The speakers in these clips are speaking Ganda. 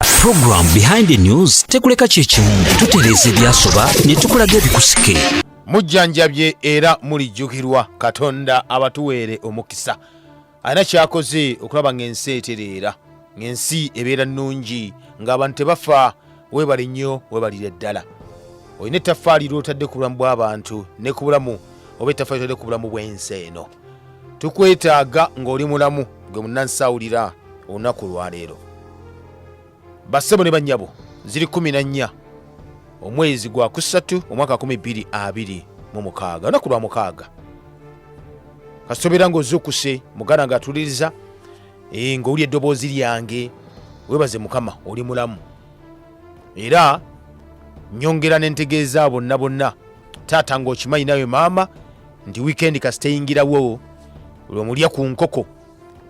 Program behind the news tekuleka kyekimu tutereeza ebyasoba ne tukulaga ebikusike mujjanjabye era mulijjukirwa katonda abatuweere omukisa alina kyakoze okulaba ng'ensi etereera ng'ensi ebeera nnungi ng'abantu tebafa weebale nnyo weebalire ddala olina ettaffaali ly'otadde ku bulamu bw'abantu ne ku bulamu oba ettaffaali ly'otadde ku bulamu bw'ensi eno tukwetaaga ng'oli mulamu gwe munnansi awulira olunaku olwaleero bassebo ne bannyabo ziri kumi na nnya omwezi gwa kusatu omwaka kumi bbiri abiri mu mukaaga olunaku lwa mukaaga kasobera ng'ozuukuse muganda ng'atuliriza eh, ng'owulya eddoboozi lyange webaze mukama oli mulamu era nyongera nentegeeza bonna bonna taata ng'okimanyi nawe maama nti wiikendi kasiteyingirawo lwemulya ku nkoko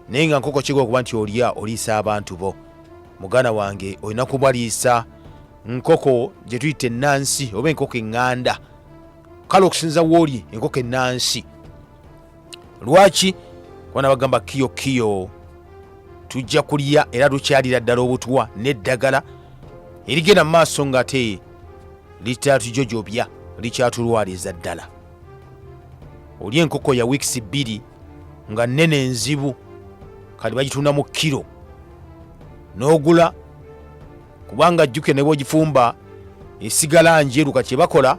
naye nga nkoko kiga okuba nti olya oliisa abantu bo muganda wange olina kubaliisa nkoko gye tuyita ennansi oba enkoko eŋŋanda kale okusinza wooli enkoko ennansi lwaki kuba nabagamba kiyo kiyo tujja kulya era tukyalira ddala obutwa n'eddagala erigenda mu maaso ngate litatujojobya likyatulwaliza ddala oli enkoko ya wiikisi bbiri nga nnene enzibu kati bagitunda mu kiro n'ogula kubanga jjukira ne bwogifumba esigala njeru kati kyebakola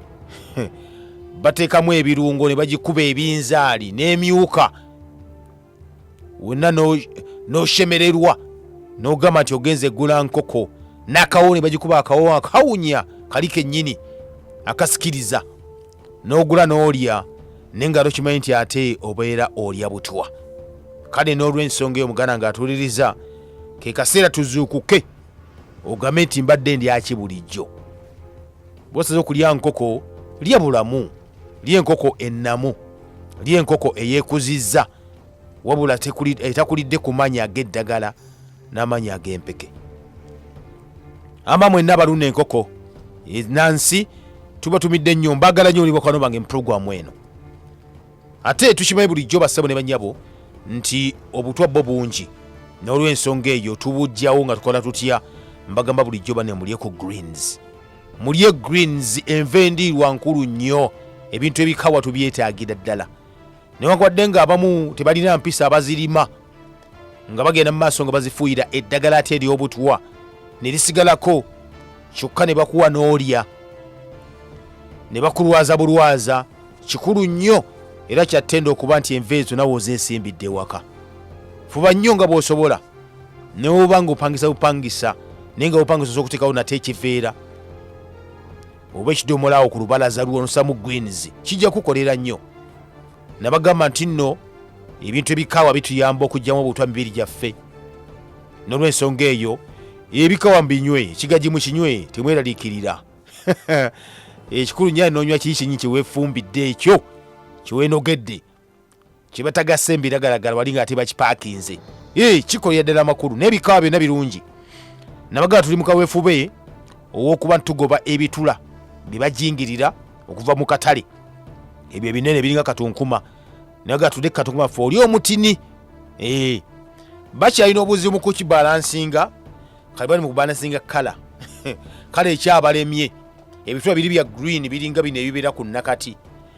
bateekamu ebirungo ne bagikuba ebinzaali n'emyuka wonna n'oshemererwa n'ogamba nti ogenze eggula nkoko n'akawo ne bagikuba akawo akawunya kali kennyini akasikiriza n'ogula n'olya naye nga tokimanyi nti ate obeera olya butwa kale n'olw'ensonga eyo muganda ng'atuuliriza ke kaseera tuzuukuke ogambe nti mbadde ndyaki bulijjo bwosaza okulya nkoko lya bulamu lyenkoko ennamu lyenkoko eyekuzizza wabula etakulidde ku manya ag'eddagala n'amanya ag'empeke ama mwenna balunda enkoko e, nansi tubatumidde nnyo mbagala nnyo olibakwano bange muprogramu eno ate tukimanyi bulijjo bassebo ne banyabo nti obutwa bwo bungi n'olwensonga eyo tubujjawo nga tukola tutya mbagamba bulijjo banemulye ku greens mulye greens enva endiirwa nkulu nnyo ebintu ebikawa tubyetaagira ddala newankubadde nga abamu tebalina mpisa abazirima nga bagenda mu maaso nga bazifuuyira eddagala ate ery'obutwa ne lisigalako kyokka ne bakuwa n'olya ne bakulwaza bulwaza kikulu nnyo era kyattenda okuba nti enva ezo nawe ozeesimbidde ewaka fuba nnyo nga bw'osobola newoba nga opangisa bupangisa naye nga bupangisa osa okutekawo nate ekiveera oba ekidomolawo ku lubalaza lwonosamu gwins kijja kukolera nnyo nabagamba nti nno ebintu ebikawa bituyamba okugyamu obutwa mibiri gyaffe nolwensonga eyo ebikawa mbinywe ekigaji mukinywe temweraliikirira ekikulu nyo anonywa kii kinyi kyewefumbidde ekyo kyewenogedde kyebataga sembe iragalagala wali nga ate bakipakinze ee kikolera ddala amakulu n'ebikawa byonna birungi nabagala tuli mu kaweefube ow'okuba ntugoba ebitula bye bajingirira okuva mu katale ebyo ebinene biringa katunkuma naga tude katunkuma fe oli omutini ee bakyalina obuzibu mu kukibalansinga kali bali mu kubalansinga kala kale ekyabalemye ebitula biri bya green biringa bino ebibeera ku nakati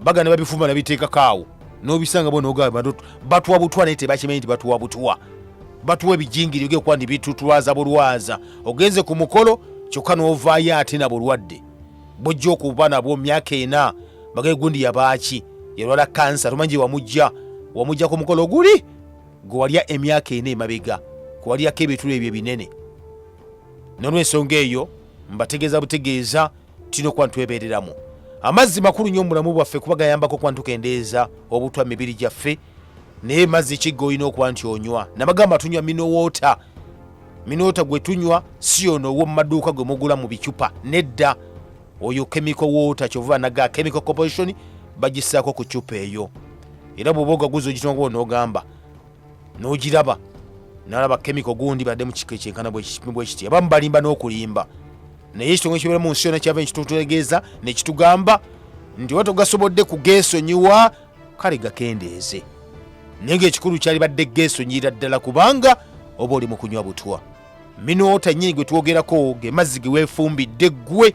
baga ne babifumba nabiteekako awo nobisanga bona ogamba batuwa butwa naye tebakimanyi nti batuwa butwa batuwa ebijingiri oge kuba nti bitutwaza bulwaza ogenze ku mukolo kyokka novaayo ate na bulwadde bojja okuba nabwo myaka ena bagaye gundi yabaaki yalwala kansa tomanyi gye wamujja wamujja ku mukolo guli gwe walya emyaka ena emabega kwewalyako ebitulo ebyo ebinene nolwensonga eyo mbategeeza butegeeza tulina okuba ntwebereramu amazzi makulu nnyo mubulamu bwaffe kuba gayambako okuba ntukendeeza obutwa mibiri gyaffe naye mazzi kigga olina okuba nti onywa nabagamba tunywa minowoota minoota gwe tunywa si ono owo mumaduuka gwe mugula mu bicupa nedda oyo kemiko woota kyova naga kemiko composition bagisaako ku cupa eyo era bwoba ogaguza ogitnga onogamba n'ogiraba nalaba kemiko gundi badde mu kika ekyenkana bwekiti abamu balimba n'okulimba naye ekitongole kibeera mu nsi yona kyava nekitutegeeza nekitugamba nti oba togasobodde kugeesonyiwa kale gakendeeze naye ngaekikulu kyali badde geesonyira ddala kubanga oba oli mu kunywa butwa minoota nyini gwe twogerako ge mazzi geweefumbidde ggwe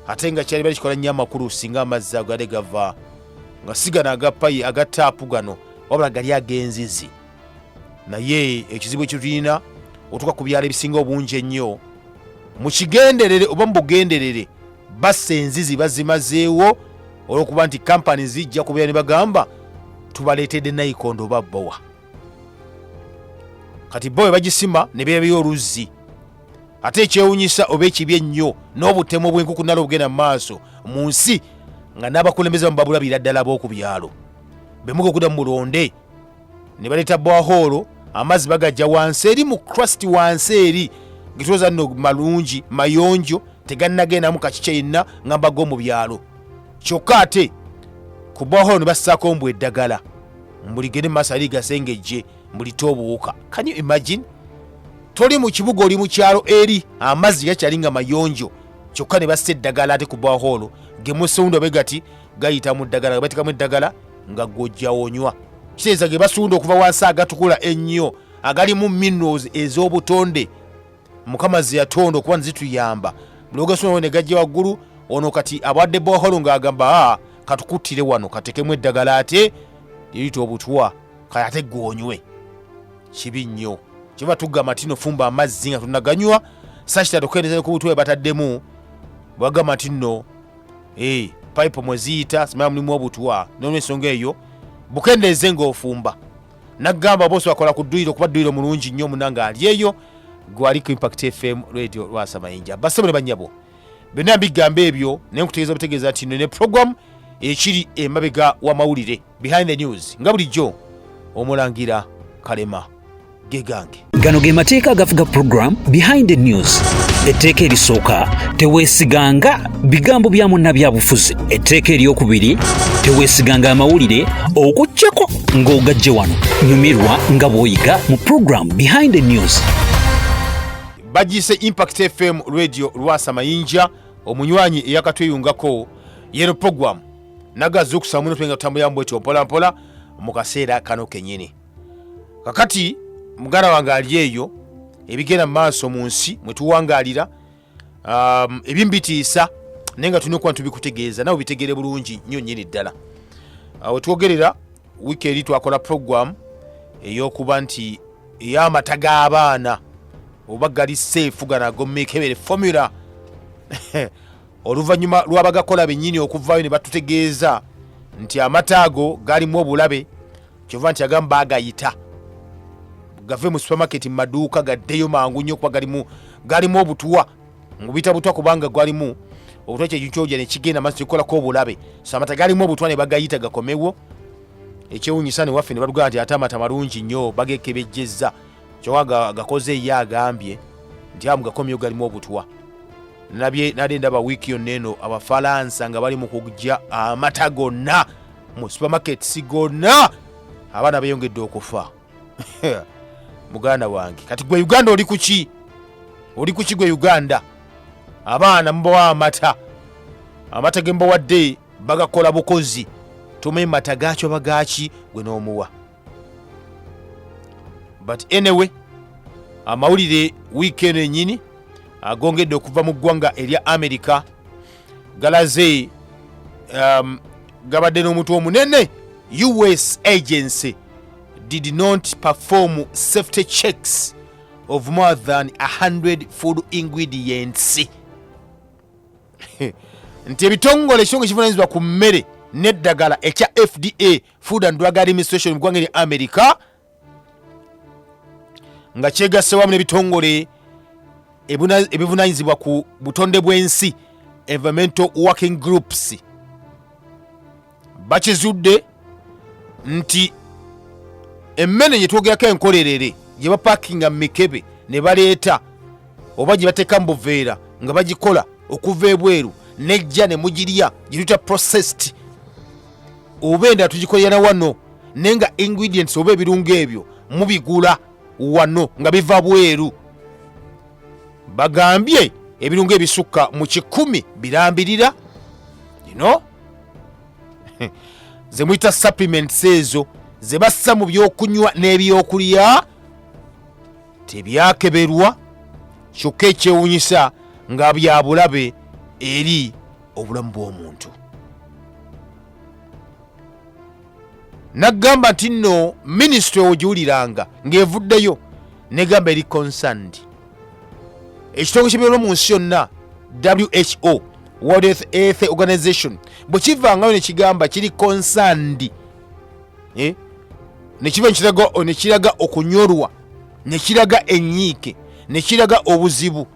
ate nga kyali bali kikola nnyo amakulu singa amazzi ago yali gava nga sigana agapayi aga taapu gano wabula gali ag'enzizi naye ekizibu ekitulina otuuka ku byalo ebisinga obungi ennyo mu kigenderere oba mu bugenderere bassa enzizi bazimazeewo olwokuba nti kampani zijja kubeera ne bagamba tubaleetedde nayikondo oba bowa kati bowa bagisima ne beebeyo oluzzi ate ekyewunyisa oba ekibi ennyo n'obutemu obwenkukunala obugenda mu maaso mu nsi nga n'abakulembeze bamu babulabira ddala b'oku byalo bemuga okuda mu mulonde ne baleeta bwahoolo amazzi bagajja wansi eri mu crust wansi eri ngetwoza nno malungi mayonjo tegannagendamu kakikya yenna nga mbago mu byalo kyokka ate ku bwahoolo ne bassaako mbu eddagala mbuligende mu maaso ali gasengejje mbulite obuwuka can you imagine toli mu kibuga oli mu kyalo eri amazzi gakyali nga mayonjo kyokka ne bassa eddagala ate ku bahoolo gemusewundo be gati gayita mu ddagala nga batekamu eddagala nga gwojjawonywa kiteeza ge basunda okuva wansi agatukula ennyo agalimu minerals ez'obutonde mukama ze yatonda okuba nezituyamba bulogasuna ne gajja waggulu ono kati abadde boholo ng'agamba a ah, katukuttire wano katekemu eddagala ate lirita obutwa kale ate gwonywe kibi nnyo kyoba tugamba tino fumba amazzi nga tunaganywa sakita tukendeeza ku butwe bataddemu bwagamba nti nno eh, pipe mweziyita simala mulimu obutwa nolwensonga eyo bukendeeze ngaofumba nagamba bose wakola ku dduyiro kuba dduyiro mulungi nnyo munange alyeyo gwali ku impact fm radio lwasa mayinja basebo ne banyabo byonna mbigamba ebyo naye nkutegeeza butegeeza nti ne program ekiri emabega w'amawulire behind the news nga bulijjo omulangira kalema gegange gano ge mateeka agafuga program behind the news etteeka erisooka teweesiganga bigambo bya munnabyabufuzi etteeka eryokubiri teweesiganga amawulire okujjako ng'ogajje wano nyumirwa nga bw'oyiga mu program behind the news bagiise impact fm radio lwasa mayinja omunywanyi eyakatweyungako yero program nagaza okusamuno twenga tutambulira mbwetyo mpolampola mu kaseera kano kenyini kakati muganda wange ali eyo ebigenda mu maaso mu nsi mwe tuwangalira um, ebimu bitiisa naye nga tulina okuba ntubikutegeeza nawe bitegere bulungi nnyo nnyini ddala awo twogerera wiiki eri twakola program eyokuba nti eyamata g'abaana oba gali seefu gano agomekebere formula oluvannyuma lwabagakola benyini okuvaayo ne batutegeeza nti amata ago galimu obulabe kyova nti agamu bagayita gave mu supermarket mu maduuka gaddeyo mangu nnyo okuba galimu galimu obutuwa ngubita butwa kubanga gwalimu obutwa kyejucoja nekigenda maso kikolako obulabe so amata galimu obutwa ne bagayita gakomewo ekyewunyisa newaffe ne batugamba nti ate amata malungi nnyo bagekebejjezza kyoka gakoze ye agambye nti amu gakomyewo galimu obutwa nabye nade ndaba wiiki yonna eno abafalansa nga bali mu kugya amata gonna mu supermarkets gonna abaana beyongedde okufa muganda wange kati gwe uganda oli kuki oli kuki gwe uganda abaana mubawa amata amata ge mbawadde bagakola bukozi tumanyi mata gaakyo bagaaki gwe n'omuwa but anyway amawulire wiiki eno enyini agongedde okuva mu ggwanga erya amerika galaze um, gabadde n'omutwe omunene us agency did not perform safety checks of more than 100 food ingredients nti ebitongole ekitongole kivunanyizibwa ku mmere n'eddagala ekya fda food and drug administration mu ggwanga erya america nga kyegasse wamu n'ebitongole ebuna- ebivunanyizibwa ku butonde bw'ensi environmental working groups bakizudde nti emmene gye twogerako enkolerere gye bapakinga mu mikebe ne baleeta oba gye bateeka mu buveera nga bagikola okuva ebweru nejja ne mugirya gye tuyita processed oba endala tugikolera na wano naye nga ingredients oba ebirungo ebyo mubigula wano nga biva bweru bagambye ebirungo ebisukka mu kikumi birambirira ino zemuyita supplements ezo zebassa mu byokunywa n'ebyokulya tebyakeberwa kyokka ekyewunyisa nga byabulabe eri obulamu bw'omuntu naggamba nti nno minisitule ogiwuliranga ng'evuddeyo negamba eri concerned ekitongole ky'ebyobulamu mu nsi yonna who world Health- health organization bwe kivangayo ne kigamba kiri concerned eh? ne kiva ne kiraga- o- ne kiraga okunyolwa ne kiraga enyiike ne kiraga obuzibu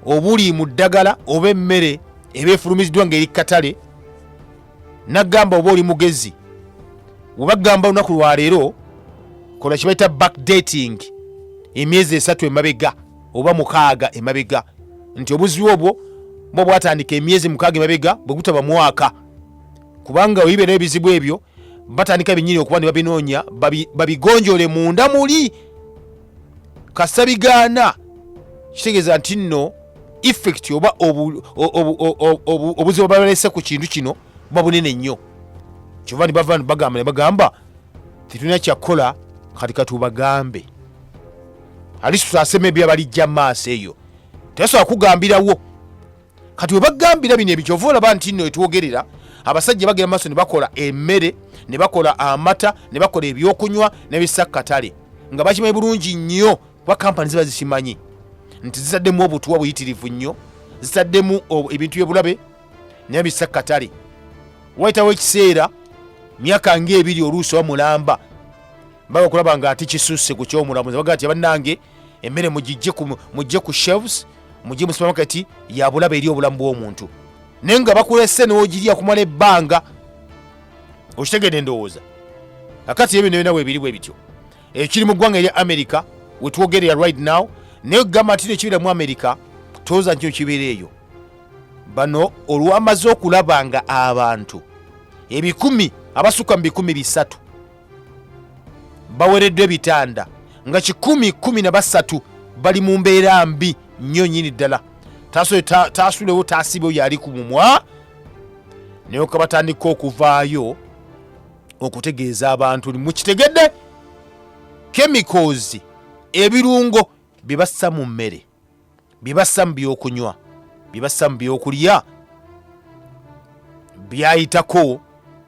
obuli mu ddagala oba emmere eba efulumiziddwa ng'eri ku katale nagamba oba oli mugezi webagamba olunaku lwaleero kola kibaita backdating emyezi esatu emabega oba mukaaga emabega nti obuzbi obwo bwo bwatandika emyezi mukaaga emabega bwegutaba mwaka kubanga oyibeera ebizibu ebyo batandika binyini okuba ne babinoonya babigonjole munda muli kasita bigaana kitegeeza nti nno effect oba obuzibu balese ku kintu kino buba bunene nnyo kyova ni bava bagamba ne bagamba tetulina kyakukola kati katubagambe ali tutasema ebyabalijja maaso eyo tebasobola kugambirawo kati webagambira bino ebikyova olaba nti no etwogerera abasajja bagera maaso nebakola emmere nebakola amata nebakola ebyokunywa nebisakkatale nga bakimanyi bulungi nnyo kuba kampani ziba zikimanyi nti zitaddemu obutuwa buyitirivu nnyo zitaddemu ebintu byebulabe naye bisakkatale wayitawo ekiseera myaka ngaebiri oluusi oba mulamba baba okulaba nga ati kisusse ku kyomulamuzi bagaa ti bannange emmere mugijje ku mujje ku shelves mujje mu supermarket ya bulaba eri obulamu bw'omuntu naye nga bakulese n'ogirya kumala ebbanga okitegedde endowooza kakati ebyo nebyo nawe ebiri bwe bityo ekiri mu ggwanga erya america wetwogerera right now naye okugamba nti ekibira mu america tooza nkyo kibeera eyo bano olwamaze okulaba nga abantu ebikumi abasukka mu bikumi bisatu bawereddwa ebitanda nga kikumi kumi na basatu bali mu mbeera mbi nnyo nyini ddala taasulewo taasibe oyo ali ku mumwa naye ka batandika okuvaayo okutegeeza abantu nti mukitegedde kemikozi ebirungo bye bassa mu mmere byebassa mu byokunywa byebassa mu byokulya byayitako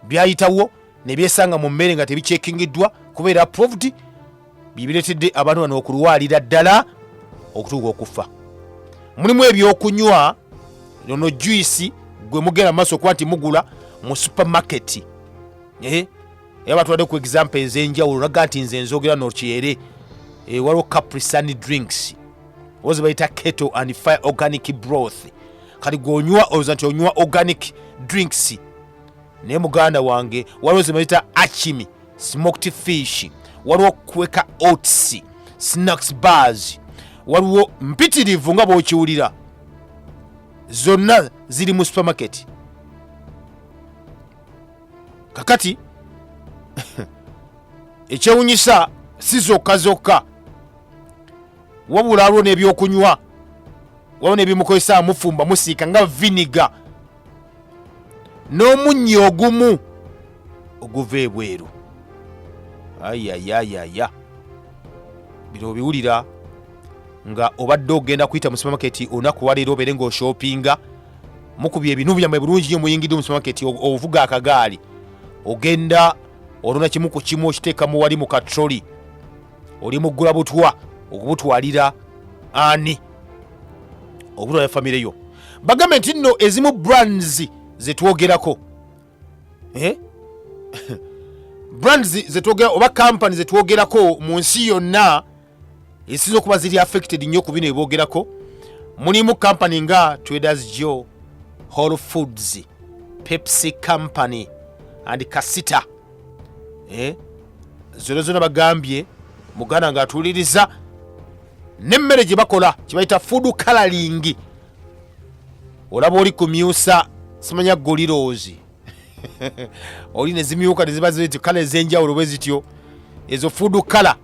byayitawo nebyesanga mu mmere nga tebikyekingiddwa kubeera proved byebiretedde abantu bano okulwalira ddala okutuuka okufa mulimu ebyokunywa ono juisi gwe mugenda mu maaso okuba nti mugula mu supermarket eh? era batwadde ku example ezenjawulo naga nti nze nzogera nokyere eh, waliwo caprisani drinks ozi bayita keto and fire organic broth kati gwonywa oloza nti onywa organic drinks naye muganda wange waliwo zebayita achimi smoked fish waliwo kweka oats snacks bars waliwo mpitirivu nga bwokiwulira zonna ziri mu supermarket kakati ekyewunyisa si zokka zokka wabula aliwo n'ebyokunywa waliwo n'ebimukozesa mufumba musiika nga viniga n'omunyi ogumu oguva ebweru ayayayaya bino obiwulira nga obadde ogenda kuyita mu supermarket olunaku waleero obeere ng'oshopinga mukubye ebinu byammwe bulungi nyo muyingidde mu supermarket ovuga akagaali ogenda olona kimu ku kimu okiteeka mu wali mu katroli oli muggula butwa okubutwalira ani okutwalira famire yo bagambe nti nno ezimu brands zetwogerako eh? brands zetwogera oba kampani zetwogerako mu nsi yonna ezisinza okuba ziri affected nnyo ku bino eboogerako mulimu kampani nga traders jo whole foods pepsi company and kasita eh? zona zona bagambye muganda ngaatuuliriza nemmere gye bakola kyebayita fudu kalalingi olaba oli kumyusa simanya goliroozi oli nezimyuka neziba ziti kala ezenjawulo bwe zityo ezo fudu kala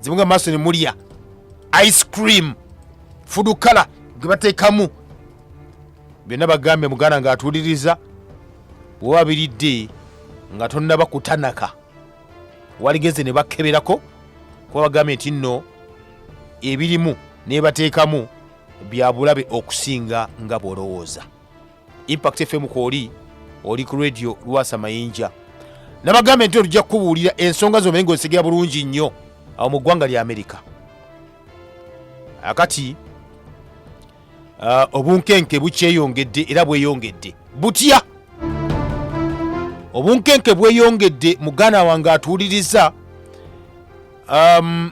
zimuga maaso ne mulya ice cream food color gwe bateekamu byonna bagambye muganda ng'atuuliriza bwoba biridde nga tonnaba kutanaka waligeze ne bakeberako kuba bagambye nti nno ebirimu nebateekamu bya bulabe okusinga nga bw'olowooza impact fm kwoli oli ku radio lwasa mayinja nabagambe nti olujja kukubuulira ensonga zomanye ngaozitegera bulungi nnyo awo mu ggwanga lya amerika akati ah, obunkenke bukyeyongedde era bweyongedde butya obunkenke bweyongedde muganda wange atuwuliriza um,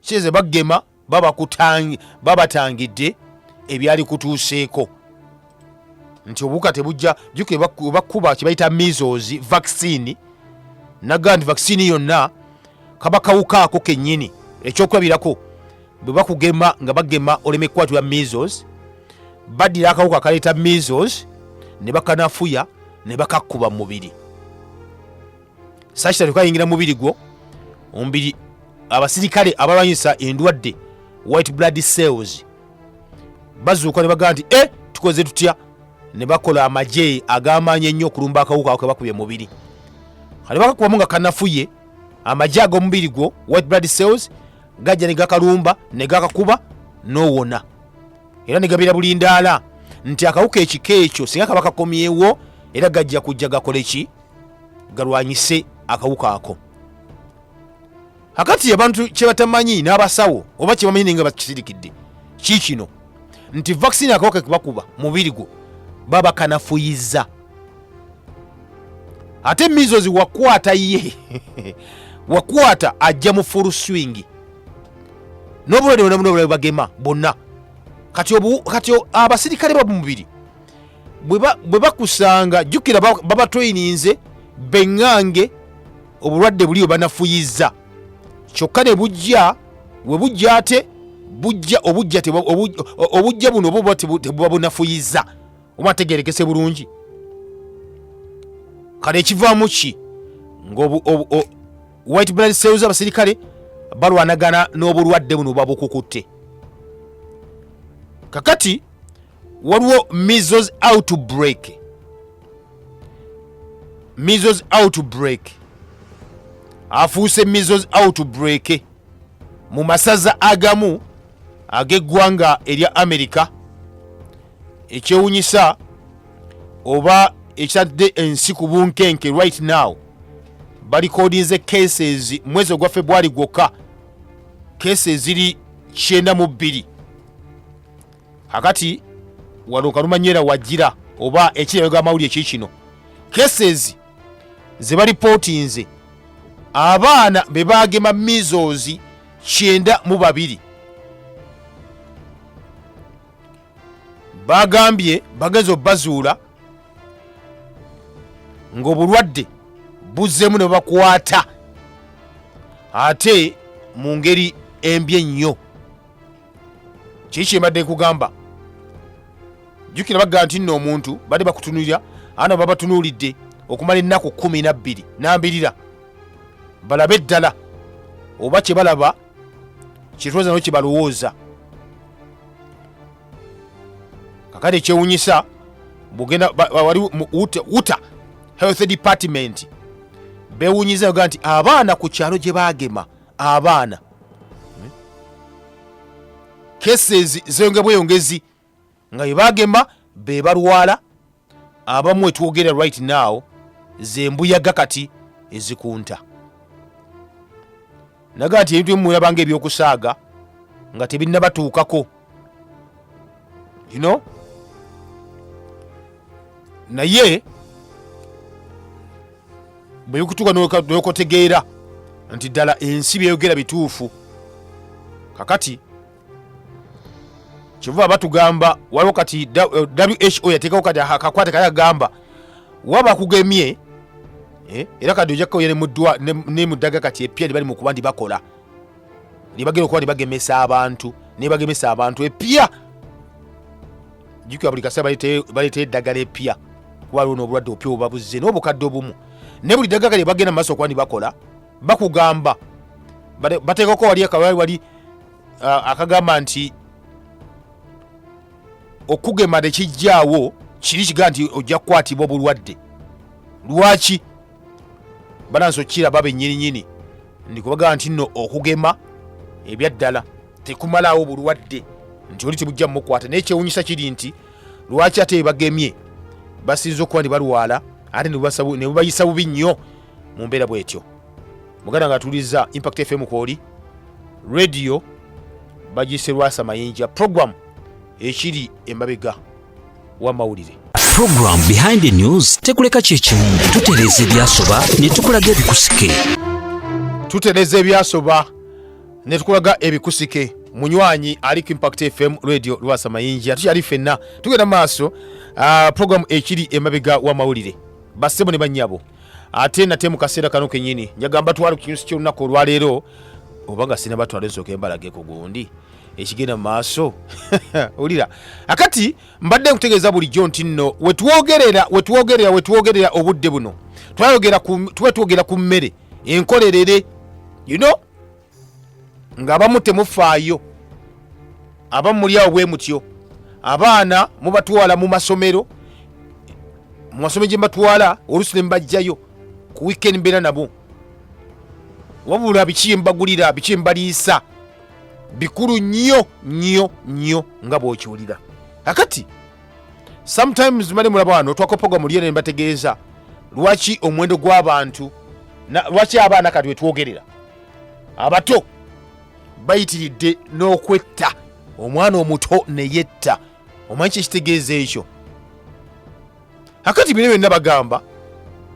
size bagema babatangidde ebyali kutuuseeko nti obuwuka tebujja juke bakkuba kyebayita misozi vaccine naga nti vaccine yonna kaba kawuka ako kennyini ekyokulabirako bwe bakugema nga bagema oleme kukwatibwa misozi baddira akawuka akaleeta misozi ne bakanafuya ne bakakkuba mu mubiri sakita tekayingira mubiri gwo omubiri abasirikale abalwanyisa endwadde white blood cells bazuuka ne bagamba nti e tukoze tutya ne bakola amagye agamaanyi ennyo okulumba akawuka ako kebakubye mubiri kale bakakubamu nga kanafuye amagye ag'omubiri gwo white blood cells gajja ne gakalumba ne gakakuba n'owona era ne gabeera bulindaala nti akawuka ekika ekyo singa kaba kakomyewo era gajja kujja gakoleki galwanyise akawuka ako akati abantu kyebatamanyi n'abasawo oba kyebamanyi naye nga bakisirikidde kiikino nti vaccine akawuka kebakuba mubiri gwo baba kanafuyiza ate mizozi wakwata ye wakwata ajja mu full swing nobulwadde bwona buno bulabe bagema bonna kati obu- kati o- abasirikale ba mubiri bwe bakusanga jjukira babatweyininze beŋŋange obulwadde buli bwe banafuyizza kyokka ne bujja we bujja ate bujja obujja obujja buno obuba tebuba bunafuyizza oba ategerekese bulungi kale ekivaamu ki nga white blood cells abasirikale balwanagana n'obulwadde buno babukukutte kakati waliwo measles outbreak measles outbreak afuuse measles outbreak mu masaza agamu ag'eggwanga erya amerika ekyewunyisa oba ekitadde ensi ku bunkenke right now balikodinze cases mwezi ogwa februari gwokka cases ziri kyenda mu bbiri akati wano kalumanyera wajira oba ekirayooga amawulire ki kino cases ze balipootinze abaana be baagema mizozi kyenda mu babiri bagambye bagenza obazuula ng'obulwadde buzzemu ne bakwata ate mu ngeri embi ennyo kiki kyembadde nkugamba jjukira bagamba nti nno omuntu badde bakutunulira ana babatunuulidde okumala ennaku kumi nabbiri nambirira balabe eddala oba kye balaba kyetwoza no kye balowooza kakati ekyewunyisa bugenda ba- ba- wali mu- uta- uta health department bewunyiza yoga nti abaana ku kyalo gye baagema abaana cases zeyonge bweyongezi nga bebagema bebalwala abamu etwogera right now zembuyaga kati ezikunta naga nti ebintu bimulabanga ebyokusaaga nga tebinnabatuukako you know naye bwekutuka nokotegeera nti ddala ensi byeyogera bituufu kakati kyova batugamba waliwo kati who yateekawo kati akakwate kaya gamba waba kugemye eh, era kadi ojakkoya nemuddaga kati epya libali mukuba ndi bakola nebagenda okuba nebagemesa abantu nebagemesa abantu epya jukira buli kasera baleeta eddagala epya kuba lwo nobulwadde opya obabuzze nobukadde obumu naye buli dagala lyebagenda mumaaso okuba nibakola bakugamba bateekako wali akawali wali akagamba nti okugema tekijjaawo kiri kiga nti ojja kukwatibwa obulwadde lwaki banansi okukiraba benyininyini ndikubagaa nti nno okugema ebyaddala tekumalaawo bulwadde nti oli tebujja mumukwata naye kyewunyisa kiri nti lwaki ate ebagemye basinza okuba nti balwala ate nebubayisa bubi nnyo mu mbeera bwetyo muganda nga atuliza impact fm kwoli radio bagise lwasa mayinja program ekiri emabega wamawulire program behind the news tekuleka kyekimu tutereeza ebyasoba ne tukulaga ebikusike tutereeza ebyasoba ne tukulaga ebikusike munywanyi ali ku impact fm radio lwasa mayinja tukyali ffenna tugenda maaso uh, program ekiri emabega wamawulire bassebo ne bannyabo ate nate mu kaseera kano kenyini njagamba twali ku kinyusi ky'olunaku olwaleero oba nga sinabatwala ensooka embalageko gundi ekigenda mu maaso wulira akati mbadde nkutegeeza bulijjo nti nno wetwogerera wetwogerera wetwogerera obudde buno twayogera tuba twogera ku mmere enkolerere you know ng'abamu temufaayo abamu muli awo bwe mutyo abaana mubatwala mu masomero mu masomero gye mbatwala oluusi ne mbajjayo ku wiikendi mbeera nabo wabula biki mbagulira biki mbaliisa bikulu nnyo nnyo nnyo nga bwokiwulira akati sometimes mali mulaba wano twakopogwa mu lyene mbategeeza lwaki omuwendo gw'abantu na- lwaki abaana kati wetwogerera abato bayitiridde n'okwetta omwana omuto neyetta omanyi kyekitegeeza ekyo akati bino byonna bagamba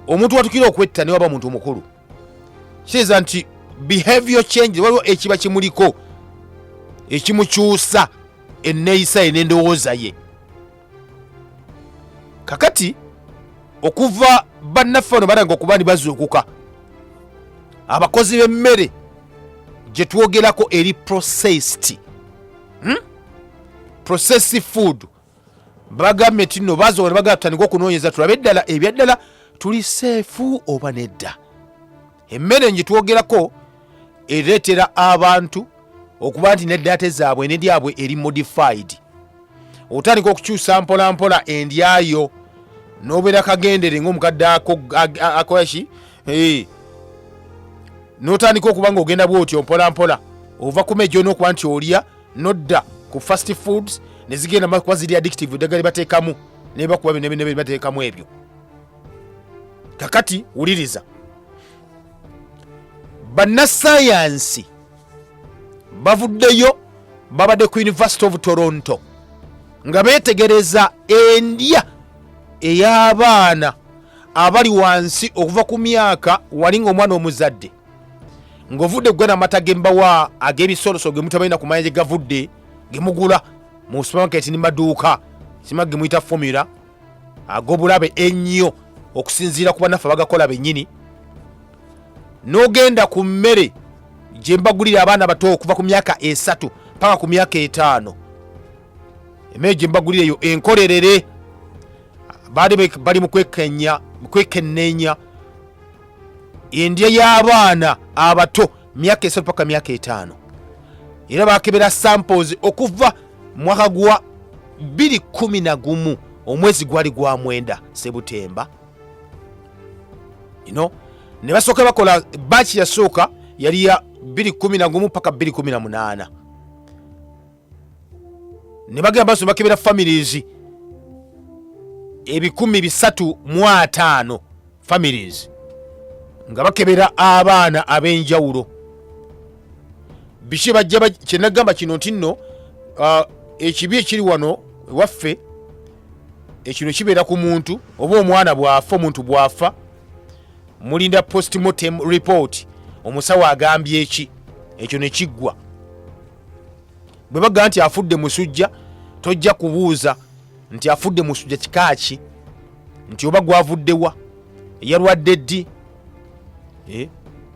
omuntu watukira okwetta newaba muntu mukulu kitegeeza nti behavior change waliwo ekiba kimuliko ekimukyusa enneeyisa ye n'endowooza ye kakati okuva bannaffe bano balanga okuba ni bazuukuka abakozi b'emmere gye twogerako eri processed hmm? processed food bagambye nti nno bazoga nebagaa tutandika okunoonyeza tulabe eddala ebyaddala tuli seefu oba nedda emmere ngitwogerako ereetera abantu okuba nti neddate zaabwe neryabwe eri modified otandika okukyusa mpolampola endyayo nobeera kagendere ngaomukadde akoyaki eh. notandika okuba nga ogenda bwotyo mpolampola ova kuma egyonaokuba nti olya nodda ku fast foods nezigenda makuba ziri addictive eddagala libateekamu nebakuba binebinebe libateekamu ebyo kakati wuliriza bannasayansi bavuddeyo babadde ku university of toronto nga beetegereza endya ey'abaana abali wansi okuva ku myaka wali ng'omwana omuzadde ng'ovudde kugana amata gembawa ag'ebisoloso gemutabalina ku manya gye gavudde gemugula mu supamaketi ne maduuka sima gemuyita fomula ag'obulabe ennyo okusinziira ku banaffe abagakola bennyini n'ogenda ku mmere gye mbagulira abaana bato okuva ku myaka esatu paka ku myaka etaano emmere gye mbagulira eyo enkolerere baali bali mu kwekenneenya endya y'abaana abato myaka esatu paka myaka etaano era bakebera samples okuva mwaka gwa 211 omwezi gwali gwa mwenda sebutemba you know, ne basooka bakola baaki yasooka yali ya 211 paka 218 ne bagenda baso bakebera families ebikumi bisatu mu ataano families nga bakebera abaana ab'enjawulo biki bajja kyenagamba kino nti nno uh, ekibi ekiri wano ewaffe ekino kibeera ku muntu oba omwana bwafa omuntu bwafa mulinda postmortem report omusawo agambye eki ekyo nekiggwa bwe bagamba nti afudde musujja tojja kubuuza nti afudde musujja kika ki nti oba gwavuddewa yalwadde ddi eh?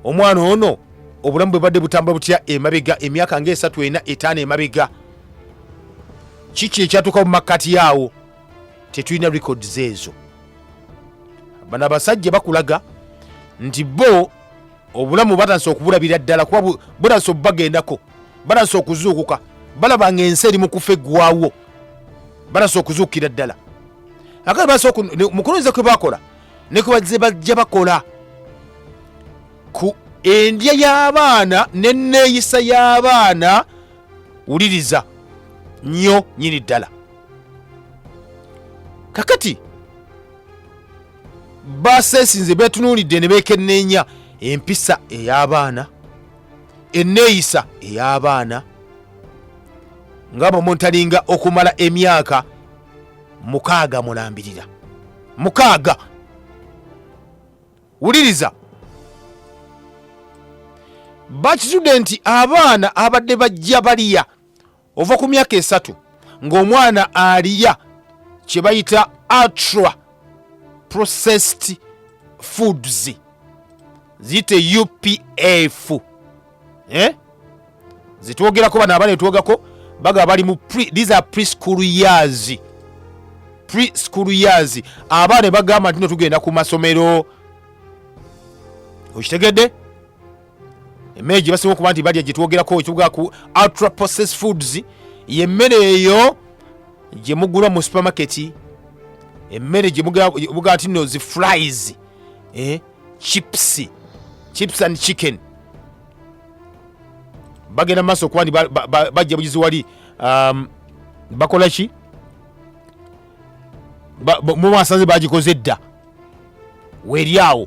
omwana ono obulamu bwe badde butambula butya emabega emyaka ngaesatu ena etaano emabega kiki ekyatuuka mu makkati yaawo tetulina records ezo bano abasajja bakulaga nti bo obulamu batandise okubulabira ddala kuba butandise obubagendako batandise okuzuukuka balaba nga ensi eri mu kufa eggwawo batandise okuzuukira ddala akati batandise mukulunze kwe bakola ne kwe bazze bajja bakola ku endya y'abaana n'enneeyisa y'abaana wuliriza nnyo nyini ddala kakati basesinze betunuulidde ne beekenneenya empisa ey'abaana enneeyisa ey'abaana nga bamontalinga okumala emyaka mukaaga mulambirira mukaaga wuliriza bakitudde nti abaana abadde bajja baliya ova ku myaka esatu ng'omwana aliya kye bayita ultra processed foods ziyite upf eh? zitwogerako bano abana etwogako baga bali mu these are preschool years preschool years abaana ne bagamba nti no tugenda ku masomero okitegedde emmere gye basinga okuba nti balya gye twogerako ekibuga ku ultra processed foods ye mmere eyo gye mugula mu supermarket emmere gye muga- gye muga nti no zi fries eh, chips chips and chicken bagenda mu maaso okuba nti ba- ba- ba- bajja bugizi wali um, bakola ki Ba- ba- mu basanze bagikoze dda weeri awo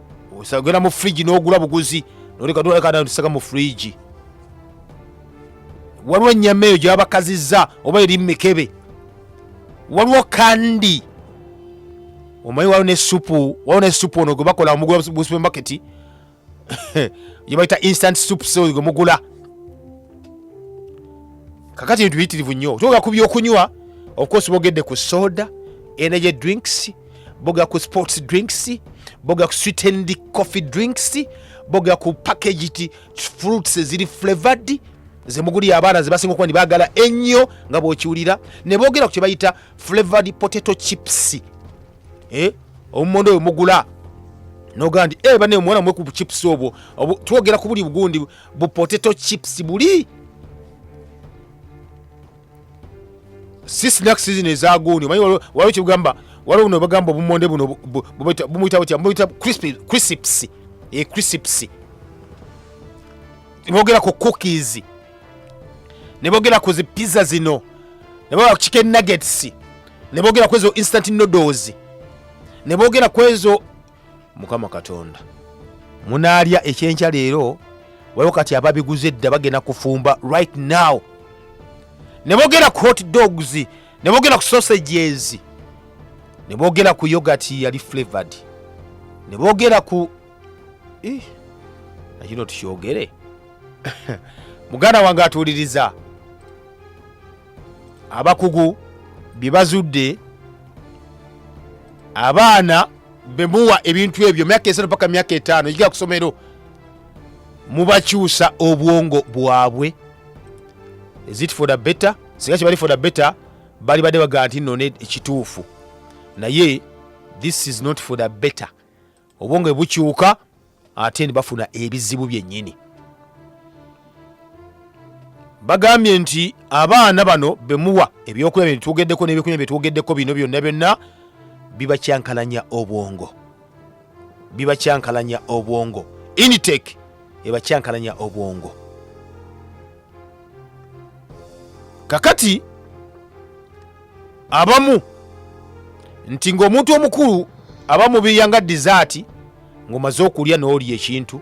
osagera mu fridge n'ogula buguzi noleka doleka nayo tusaka mu fridge waliwo ennyama eyo gyabakazizza oba eri mumikebe waliwo kandi omanyi waliwo ne supu waliwo ne supu ono gwe bakola omugula mu supermarket gye bayita instant soup so gwe mugula kakati ebintu biyitirivu nnyo kyoga ku byokunywa of course bogedde ku soda energy drinks boga ku sports drinks boga ku sweetened coffee drinks boga ku packaged fruits eziri flavored zemuguli abaana zebasinga okuba nibagala ennyo nga bwokiwulira ne boogera ku kye bayita flavored potato chips eh? omumondo oyo mugula nogaa nti eh, bane omwana mwe ku chips obwo twogera ku buli bugundi bu potato chips buli si snack season ezaguuni omanyi waliwo kyebugamba waliwo buno bagamba obumonde buno bumuyita butya bumuyita crisps e crisps nebogera ku cookies nebogera ku zipizza zino nebogera ku chicken nuggets nebogera kwezo instant noodles nebogera kwezo mukama katonda munaalya ekyenkya leero waliwo kati ababiguze edda bagenda kufumba right now ne boogera ku hot dogs ne boogera ku sausages ne boogera ku yogati yali flavored ne boogera ku Ih, na kino tukyogere muganda wange atuwuliriza abakugu bye bazudde abaana bemuwa ebintu ebyo myaka esatu paka myaka etaano egiga kusomero mubakyusa obwongo bwabwe is it for the better singa kibali for the better bali badde bagaa nti none ekituufu naye this is not for the better obwongo bwe bukyuka ate ne bafuna ebizibu byennyini bagambye nti abaana bano bemuwa ebyokulya bino bitwogeddeko n'ebyokunywa byetwogeddeko bino byonna byonna bibakyankalanya obwongo bibakyankalanya obwongo initec ebakyankalanya obwongo kakati abamu nti ng'omuntu omukulu aba mubiya nga dizaati ng'omaze okulya n'olya ekintu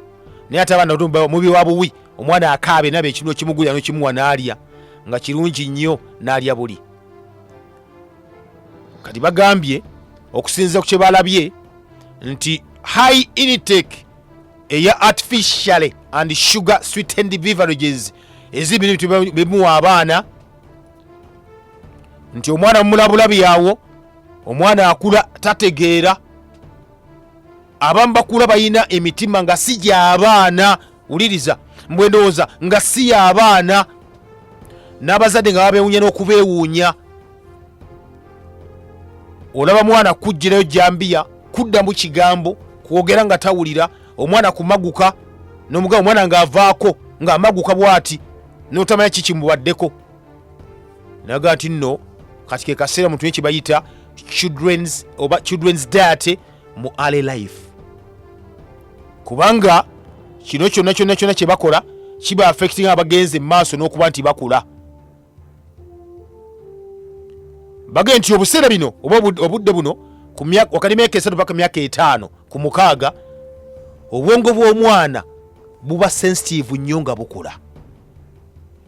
naye ate abaana bato mubi wa buwi omwana akaabe naba ekintu ekimugulira nokimuwa n'alya nga kirungi nnyo n'alya buli kati bagambye okusinziira ku kye balabye nti high initake eya artificially and sugar sweetened beverages ezibiri bimuwa abaana nti omwana mumulabulabi yawo omwana akula tategeera abamu bakula balina emitima nga si gyabaana wuliriza mbwendowooza nga si yabaana n'abazadde nga babewunya n'okubeewuunya olaba mwana kujjirayo jambiya kuddamu kigambo kwogera nga tawulira omwana kumaguka nomugamba omwana ngaavaako ngaamaguka bwati notamanya kiki mubaddeko naga nti nno kati kekaseera muntu nekibayita children's oba children's diety mu ale life kubanga kino kyonna kyonna kyonna kyebakola kiba affecting abagenze mu maaso n'okuba nti bakula baga nti obuseera bino oba obudde buno wakati myaka esatu paka myaka etaano ku mukaaga obwongo bw'omwana buba sensitive nnyo nga bukula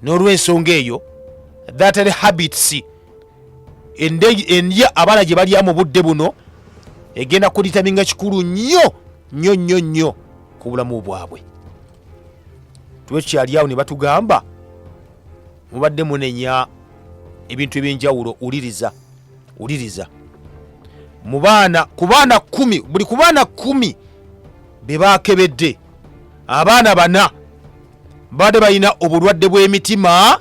n'olwensonga eyo thatary habits endya abala gye balya mu budde buno egenda kulitaminga kikulu nnyo nnyo nnyo nnyo ku bulamu bwabwe tuba tukyali awo ne batugamba mubadde munenya ebintu ebyenjawulo uliriza uliriza mu baana ku baana kumi buli ku baana kumi be bakebedde abaana bana baade balina obulwadde bw'emitima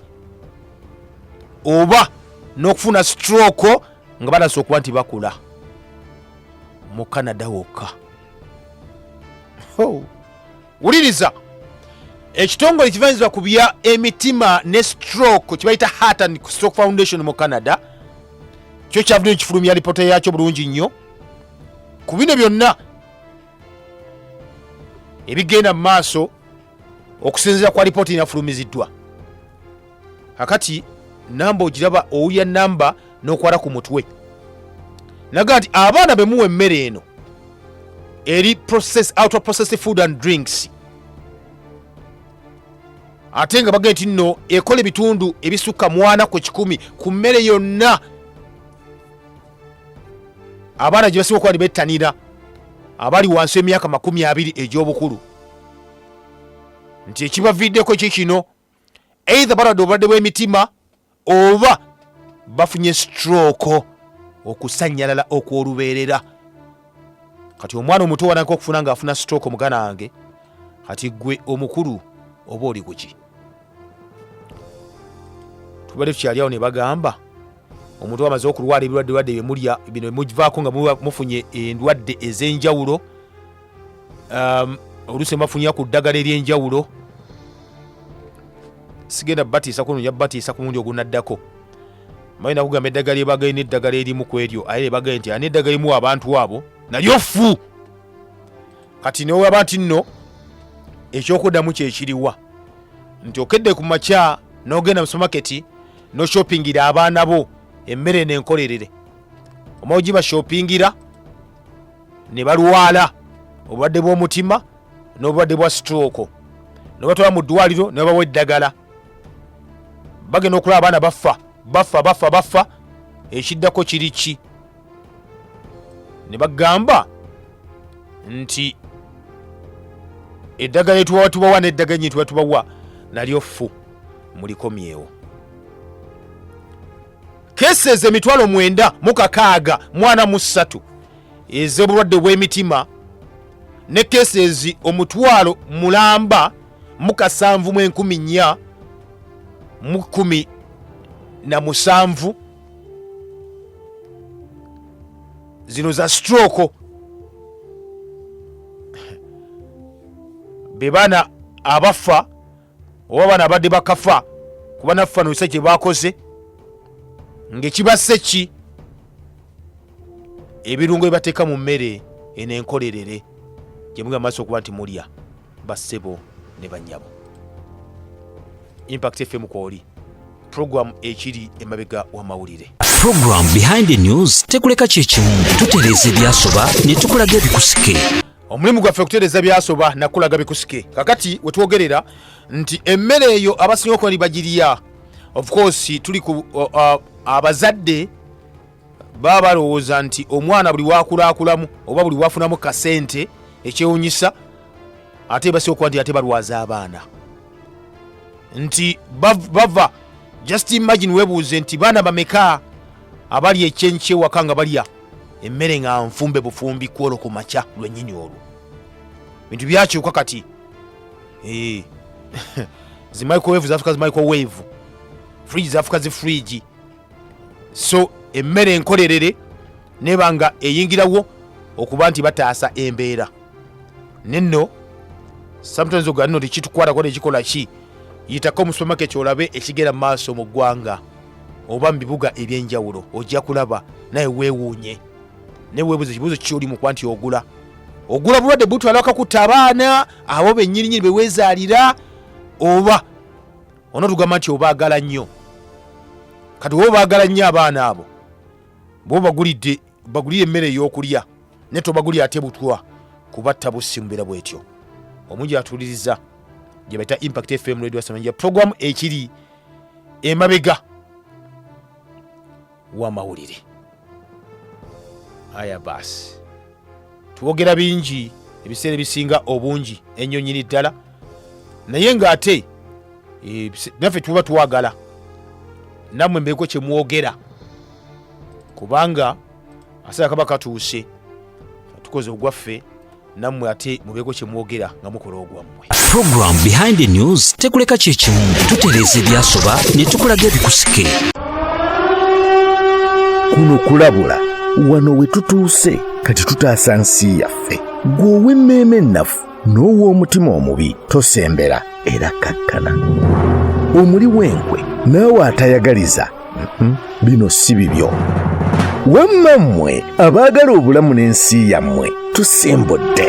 oba n'okufuna stroke nga balasa okuba nti bakula mu canada wokka oh. wuliriza ekitongole ekivanyizibwa ku bya emitima ne stroke kibayita heart and stroke foundation mu canada kyo kyavudde kifulumya lipoota yaakyo bulungi nnyo ku bino byonna ebigenda mu maaso okusinziira kwa lipoota enafulumiziddwa akati namba ogiraba owulira namba nokwala ku mutwe naga nti abaana bemuwa emmere eno eri process, outer processed food and drinks ate nga bagee nti nno ekola ebitundu ebisukka mwana ku kikumi ku mmere yonna abaana gye basinga okuba ne bettanira abali wansi emyaka makumi abiri egy'obukulu nti ekibaviiddeko ki kino eitha balwadde obulwadde bw'emitima oba bafunye stroke okusanyalala okw'olubeerera kati omwana omuto wanaka okufuna ng'afuna stroke mugana wange kati gwe omukulu oba oli kuki tubadde tukyali awo ne bagamba omuntu wamaze okulwala ebirwadde lwadde byemulya bino bimuvaako nga muba mufunye endwadde ez'enjawulo um, oluusi nebafunyira ku ddagala ery'enjawulo sigenda batiisa kuno nja batiisa ku mundi ogunaddako mayi nakugamba eddagala ebagaye n'eddagala erimu ku eryo aye ebagaye nti ani eddagala erimu abantu abo nalyo ffu kati newaba nti nno ekyokuddamu kyekiriwa nti okedde ku makya n'ogenda mu sumaketi noshopingira abaana bo emmere nenkolerere omaogiba shopingira ne balwala obulwadde bw'omutima n'obulwadde bwa stroke ne batwala mu ddwaliro ne babawa eddagala bagenda okulaba abaana baffa baffa baffa baffa ekiddako kiri ki ne bagamba nti eddagala etubawa tubawa n'eddagala nyetuba tubawa nalyo ffu mulikomyewo cases emitwalo mwenda mu kakaaga mwana mu ssatu ez'obulwadde bw'emitima ne cases omutwalo mulamba mu kasanvu mu enkumi nnya mu kkumi na musanvu zino za stroke be baana abafa oba bano abadde bakafa kuba nafanuse kye bakoze ng'ekibasse ki ebirungo bye bateeka mu mmere eno enkolerere gye muli amaaso okuba nti mulya bassebo ne bannyabo impact fm kwoli pulogulaamu ekiri emabega w'amawulire Program Behind the News tekuleka kye kimu tutereeza ebyasoba ne tukulaga ebikusike omulimu gwaffe okutereeza byasoba nakulaga bikusike kakati wetwogerera nti emmere eyo abasinga okuba bagirya of course tuli ku uh, uh, abazadde baba balowooza nti omwana buli wakulaakulamu oba buli wafunamu kasente ekyewunyisa ate basinga okuba nti ate balwaza abaana nti bava just imagine webuuze nti baana bameka abali ekyenkyewa kanga balya emmere nga nfumbe bufumbi kwolwo ku makya lwennyini olwo bintu byakyuka kati Eh. zi microwave zafuka zi microwave fridge zafuka zi fridge so emmere enkolerere neba nga eyingirawo okuba nti bataasa embeera nenno sometimes oganno tekitukwatako nekikola ki yitako mu supermarket olabe ekigenda mu maaso mu ggwanga oba mu bibuga eby'enjawulo ojja kulaba naye weewuunye naye weebuza ekibuuzo kyoli mu kuba nti ogula ogula bulwadde butwala bakakutta abaana abo bennyini nyini beweezaalira oba onotugamba nti obaagala nnyo kati woba obaagala nnyo abaana abo bwe obagulidde bagulire emmere ey'okulya naye tobagulira ate butwa kubatta bussi mu mbeera bwetyo omungi atuuliriza gye bayita impact fm radio samanja programu ekiri emabega wamawulire aya baasi twogera bingi ebiseera ebisinga obungi ennyo nyini ddala naye ng'ate eh, naffe tuba twagala nammwe mbeeko kyemwogera kubanga asaa kaba katuuse tukoze ogwaffe nammwe ate mubeeko kye mwogera nga mukola ogwammwe program behind the news tekuleka kyekimu tutereeza ebyasoba ne tukulaga ebikusike kuno kulabula wano we tutuuse kati tutaasa nsi yaffe gwe ow'emmeeme ennafu n'ow'omutima omubi tosembera era kakkana omuli w'enkwe naawe atayagaliza Hmm? bino si bibyo wamma mmwe abaagala obulamu n'ensi yammwe tusimbudde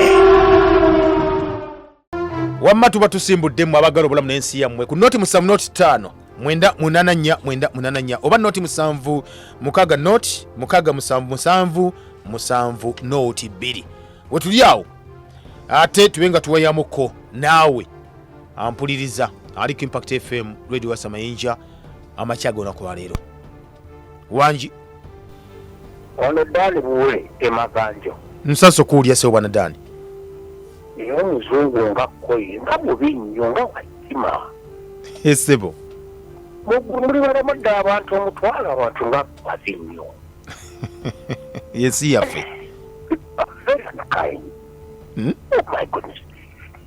wamma tuba tusimbudde mmwe abaagala obulamu n'ensi yammwe ku noti musamu noti ttaano mwenda munana nnya mwenda munana nnya oba noti musanvu mukaaga noti mukaaga musanvu musanvu musanvu noti bbiri wetuli awo ate tube nga tuwayamuko naawe ampuliriza ali ku impact fm radio wasamayinja amakya g'olunaku lwaleero wangi wano daani buwe emaganjo nsaso kuwulya sebo bwana daani naye omuzungu nga koye nga bubi nnyo nga wakima esebo muli balamudde abantu omutwalo abantu nga bazi nnyo yensi yaffe hmm? oh my goodness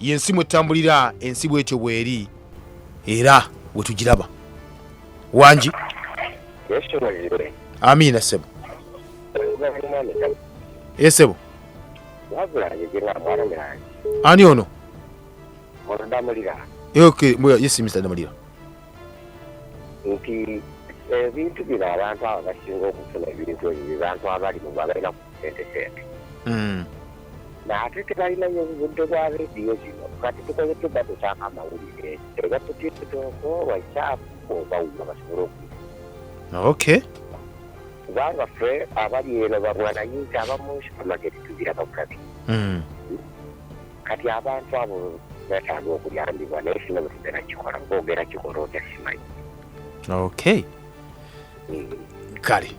yensi mwetambulira ensi bwetyo bweri era wetugiraba wangi amiina sebo esebo ani ono yesimisitamulira nti ebintu bino abantu abo basinga okufuna ebintu ebyo abantu abali mubalina sentesente mm. naate tebalinayo obudde bwa rediyo zino kati tukoze tuba tutaaka amawulire ega tutikitoko wakyaafu oba wuma basobole oku ok kubanga ffe abali eno bamwanayinza abamu supamaketi tugira babulabi mm. kati abantu abo betaaga okuyambibwa naye sina bwetugera kikola kuba ogera kikola otya simanyi ok kale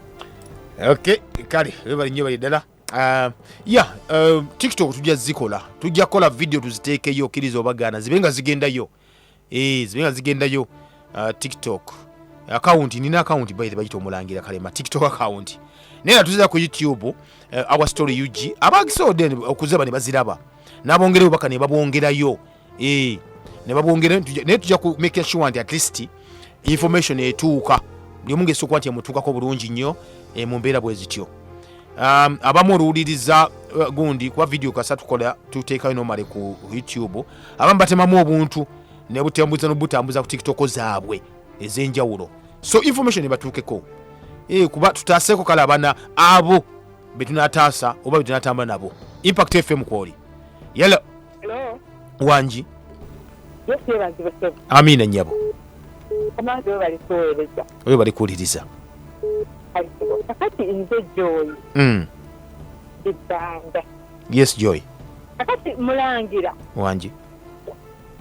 okay kale webali nnyo bali ddala Uh, ya uh, tiktok tujja zikola tujja kukola video tuziteekeyo okkiriza obagaana zibe nga zigendayo e, zibe nga zigendayo uh, tiktok akawunti nina akawunti baite bagita omulangira kalema tiktok akawunti naye nga tuzira ku youtube uh, our story ug abaagisoodde okuziba ne baziraba n'abongera obubaka ne babwongerayo eh, ne babwongera naye tujja ku making sure nti at least information etuuka buli omu ngaesokuba nti emutuukako bulungi nnyo eh, mu mbeera bwe zityo um, abamu oluwuliriza uh, gundi kuba vidiyo kasa tukola tuteekayo nomale ku youtube abamu batemamu obuntu nebutambuza nobutambuza ku tiktoko zaabwe ez'enjawulo so information ebatuukeko eh, kuba tutaaseko kale abana abo betunataasa oba betunatamba nabo impact fm kwoli yala wangi amiina nyabo oyo bali kuwuliriza hmm. yes joy kakati mulangira wangi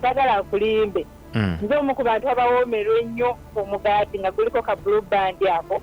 sagala akulimbe hmm. nze omu ku bantu abawoomerwa ennyo omugaati nga guliko ka blue band ako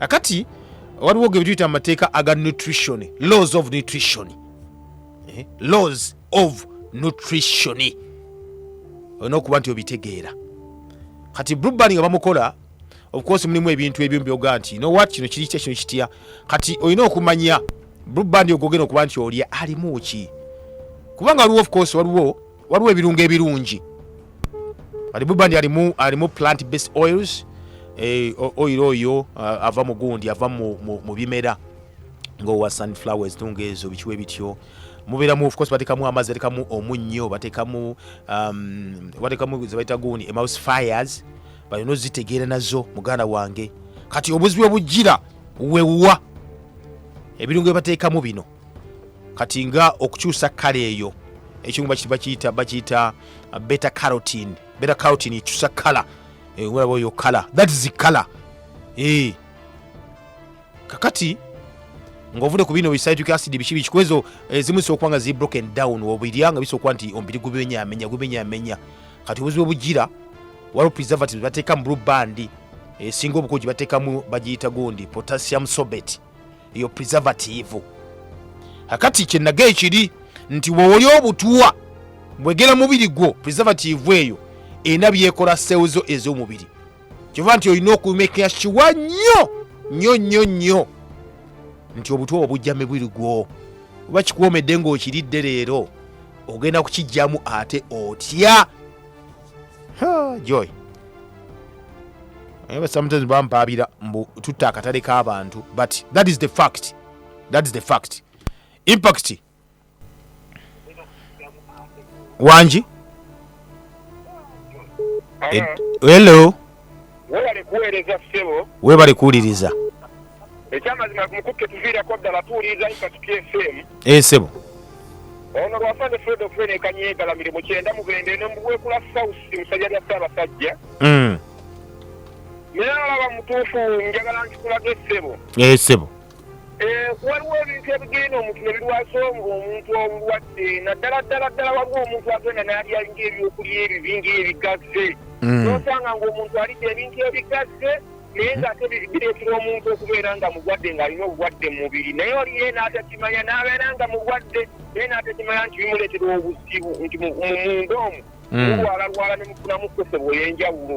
akati waliwo ge bituyita mu mateeka aga nutrition laws of nutrition eh? laws of nutrition olina okuba nti obitegeera kati brubani nga bamukola ofcourse mulimu ebintu ebimu byoga nti nowat kino kiri kya kino kitya kati olina okumanya brubani ogogena okuba nti olya alimu ki kubanga waliwo ofcourse waliwo waliwo ebirungo ebirungi alibubandi alimu alimu plant based oils eh, oil oyo uh, ava mu gundi ava mu, mu, mu bimera ngaowa sunflowers tunga ezo bikiwa ebityo mubeeramu ofcourse batekamu amazzi batekamu omunnyo batekamu um, batekamu zebaita gundi emouse fires balina ozitegeera nazo muganda wange kati obuzibu obujjira wewa ebirungo byebateekamu bino kati nga okukyusa kala eyo ekimu bakiyita bakiyita uh, beta carotin beta carotin ekyusa kala eh, olaba oyo kala that is kala eh. kakati ngaovudde ku bino bisaituka acid biki biki kwezo ezimu eh, zisobola okuba nga zi broken down obirya nga bisobola okuba nti omubiri gubimenyamenya gubimenyamenya kati obuzibu obugira waliwo preservatives bateekamu blue bandi esinga obukugi bateekamu bagiyita gundi potassium sobeti eyo preservative akati kyenaga ekiri nti wewoli obutuwa bwegera mubiri gwo preservative eyo erina byekola seezo ez'omubiri kyova nti olina okumekeya kiwa nnyo nnyo nnyo nnyo nti obutuwa obujja mubiri gwo oba kikuwomedde ng'okiridde leero ogenda kukijjamu ate otya Ha, joy Eh, but sometimes bampaabira mbu tutta akatale k'abantu but that is the fact that is the fact impact wangi Ed- hello Webale kuweereza ssebo. Webale kuwuliriza. Ekyamazima mukutte tuviirako ddala tuwuliriza Impact FM. Eh ssebo. Ono lwafande Fred Ofwene Kanyegala miri mu kyenda mu bende ne mu bwekula South musajja lya Ssaabasajja. Mm. Naye alaba mutuufu njagala nkikulage ssebo. Eh ssebo. Eh, waliwo ebintu ebigenda omuntu ne birwasa omuntu obulwadde naddala ddala ddala waliwo omuntu agenda nalya ngaebyokulya ebibi ngaebigasse mm. nosanga ngaomuntu alidde ebintu ebigasse naye nga ate bireetera omuntu okubeera nga mulwadde ng'alina obulwadde mu mubiri naye oliye n'atakimanya n'abeera nga mulwadde naye n'atakimanya nti bimuleetera obuzibu nti mumunda omu mm. mulwalalwala ne mufunamu kkosebwa eyenjawulo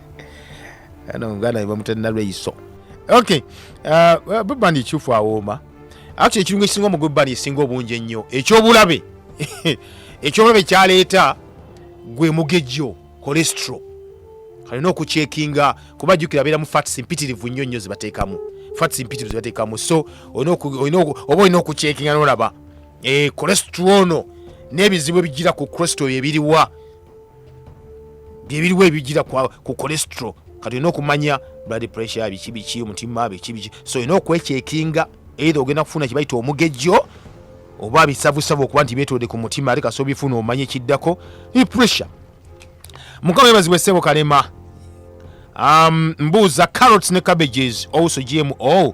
ano muganda ne bamutera nalweyiso ok uh, bubani ekyufu awooma akti ekirungo ekisinga omu gwebani esinga obungi ennyo ekyobulabe ekyobulabe kyaleeta gwe mugejjo cholestro kalina okukyekinga kuba jukira abeera mu fats mpitirivu nnyo nnyo zibateekamu fats mpitirivu zibateekamu so olina oku- olina oku- oba olina okukyekinga nolaba Eh, cholestro ono n'ebizibu ebijira ku cholestro ebiriwa byebiriwo ebijira ku cholesterol kati olina okumanya blood pressure biki biki omutima biki biki so olina okwekyekinga either ogenda kufuna kibayita omugejjo oba bisavusavu okuba nti betode ku mutima ate kasobola bifuna omanya ekiddako pressure mukama ebazibwa essebo kalema um, mbuuza carrots ne cabbages also gmo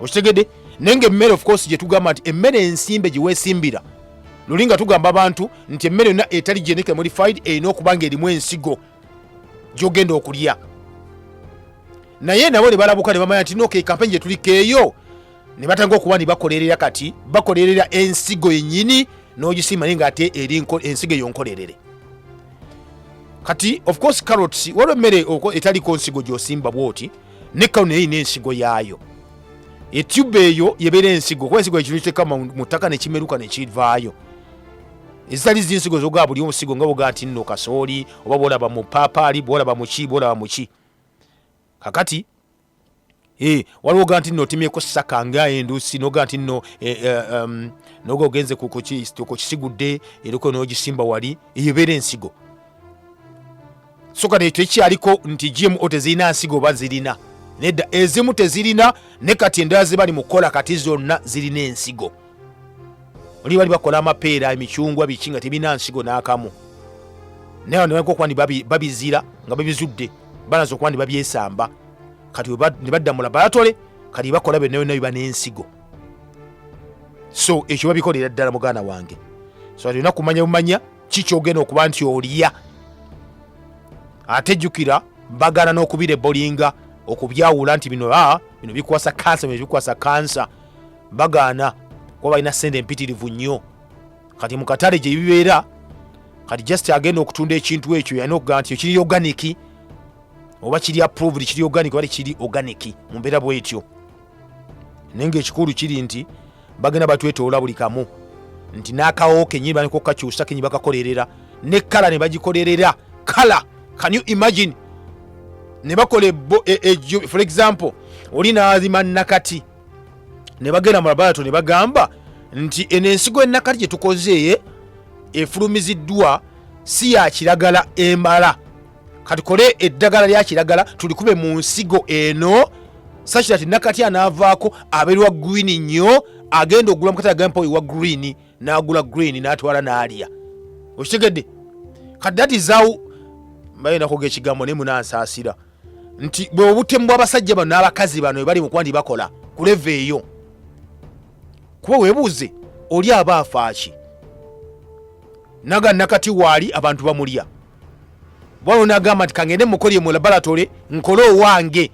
okitegedde naye nga emmere of course gye tugamba nti emmere ensimbe gye weesimbira luli nga tugamba abantu nti emmere yonna etali genetically modified erina okuba nga erimu ensigo gyogenda okulya naye nabo ne balabuka ne bamanya nti noka ekampeni gye tulikeeyo ne batanga okuba ne bakolerera kati bakolerera ensigo yennyini n'ogisiima naye nga ate eri ensigo eyo nkolerere kati of course carrots waliwo emmere etaliko nsigo gy'osimba bwoti ne kano naye erina ensigo yaayo etyuba eyo yebeera ensigo kuba ensigo ekintu kiteeka mu mu ttaka ne kimeruka ne kivaayo ezitali zinsigo zogaa buli omusigo nga bogaa nti nno kasooli oba bwolaba mu paapaali bwolaba muki bwolaba muki kakati Eh, waliwo ga nti nno otemyeko saka nga endusi noga nti nno eh, eh, um, noga ogenze ku- ku ki- ku kisigudde eriko nogisimba wali eyo ebeera ensigo soka ne tekyaliko nti GMO tezirina nsigo oba zirina nedda ezimu tezirina ne kati endala zibali mu kukola kati zonna zirina ensigo oli bali bakola amapeera emicungwa biki nga tebirina nsigo n'akamu naye nebaga okuba ndi babizira nga babizudde balaza okuba ndi babyesamba kati ne badda mu labalatole kati bakola byonna byonna biba n'ensigo so ekyo babikolera ddala muganda wange so alina kumanya bumanya kikyogenda okuba nti olya ate jjukira bagana n'okubira ebolinga okubyawula nti bino ah, bino bikwasa kansa bino bikwasa kansa bagaana kuba balina sente empitirivu nnyo kati mu katale gye bibeera kati just agenda okutunda ekintu ekyo yalina okugamba nti ekiri oganiki oba kiri approved kiri oganiki oba tekiri oganiki mu mbeera bwetyo naye ngaekikulu kiri nti bagenda batwetoola buli kamu nti n'akawo kenyini baniko kakyusa kenyini bakakolerera ne kala ne bagikolerera kala can you imagine ne bakola e, e, for example oli nazima nakati ne bagenda mu labarato ne bagamba nti eno ensigo enakati gye tukoze efulumiziddwa si ya kiragala emala katukole eddagala lya kiragala tulikube mu nsigo eno sakira ti nakati anaavaako aberwa green nnyo agenda ogula mukati agampa oyo wa green n'agula green n'atwala n'alya okitegedde kati that is how mbaye nakoga ekigambo naye munansaasira nti bwe obutemu bw'abasajja bano n'abakazi bano ebali mu kuba nti bakola kuleva eyo kuba webuuze oli aba afaaki naga nakati waali abantu bamulya waliwo nagamba nti kangende mukolye mu laboratory nkole owange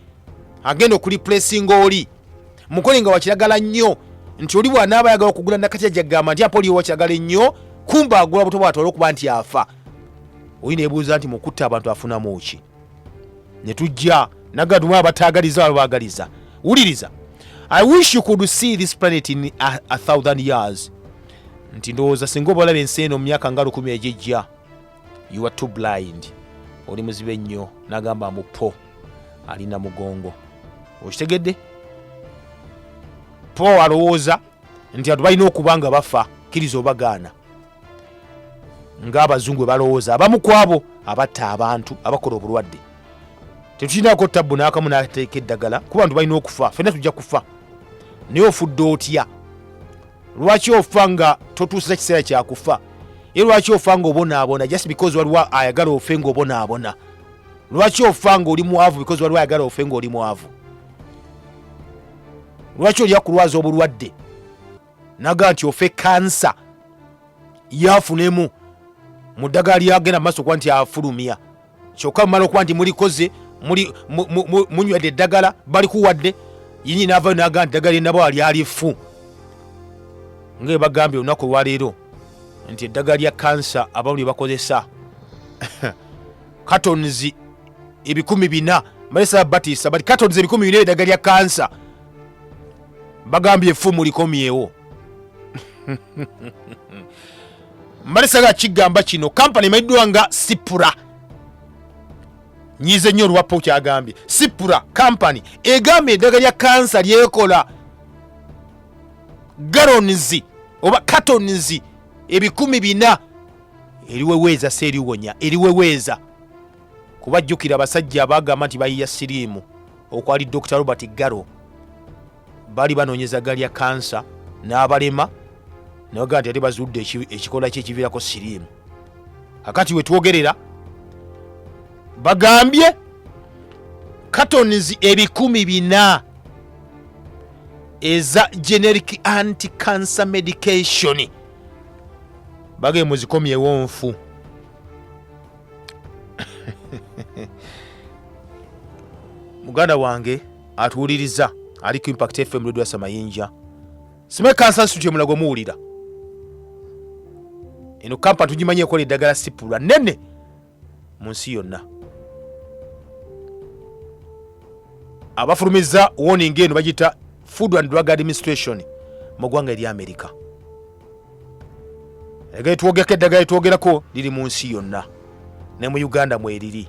agenda okulipulesinga oli mukole nga wakiragala nnyo nti oli bwanaaba ayagala okugula nakatya jagamba nti apoliyo wakiragala ennyo kumba agula buto bwatwala okuba nti afa oli nebuuza nti mukutta abantu afunamu ki netujja nagaduma abataagaliza abo baagaliza wuliriza i wish you could see this planet in a, a thousand years nti ndowooza singa obalaba ensi eno mu myaka nga lukumi egijja you are too blind oli muzibe nnyo nagamba mbu po alina mugongo okitegedde po alowooza nti abantu balina okuba nga bafa kkiriza obagaana ng'abazungu bwe balowooza abamu ku abo abatta abantu abakola obulwadde tetulinako tabbu n'akamu n'ateeka eddagala kuba bantu balina okufa fenna tujja kufa naye ofudde otya lwaki ofa nga totuusiza kiseera kyakufa ye lwaki ofa nga obonaabona just because waliwo ayagala ofe nga obonaabona lwaki ofa nga oli mwavu because waliwo ayagala ofe nga oli mwavu lwaki olya kulwaza obulwadde naga nti ofe kansa yafunemu mu ddagala lyagenda mu maaso kuba nti afulumya kyokka mumala okuba nti mulikoze munywedde eddagala balikuwadde yinyi naavayo naga nti ddagala enabo alyali ffu nga ebagambye olunaku olwaleero nti eddagala lya kansa abamu lye bakozesa cartons ebikumi bina malesa batisa but cartons ebikumi bina eddagala lya kansa bagambye effumu likomyewo mbadde saga kigamba kino kampani emanyiddwa nga sipura nyize nnyo olwappa okyagambye sipura kampani egamba eddaga lya kansa lyekola galonizi oba katonizi ebikumi bina eriweweeza si eriwonya eriweweeza kuba jjukira abasajja abagamba nti bayiya siriimu okwali dr robert garo bali banoonyeza galya kansa n'abalema naga nti ate bazudde eki- ekikola kye ekiviirako siriimu kakati wetwogerera bagambye katons ebikumi bina eza generic anti cancer medication bagee muzikomyewo nfu muganda wange atuwuliriza ali ku impact fm radio samayinja sime kansa nsuti emulago muwulira eno kampani tugimanyi ekola eddagala sipulwa nene mu nsi yonna abafulumiza warning eno bagiyita food and drug administration mu ggwanga erya amerika eddagala etwogerako eddagala etwogerako liri mu nsi yonna ne mu uganda mweriri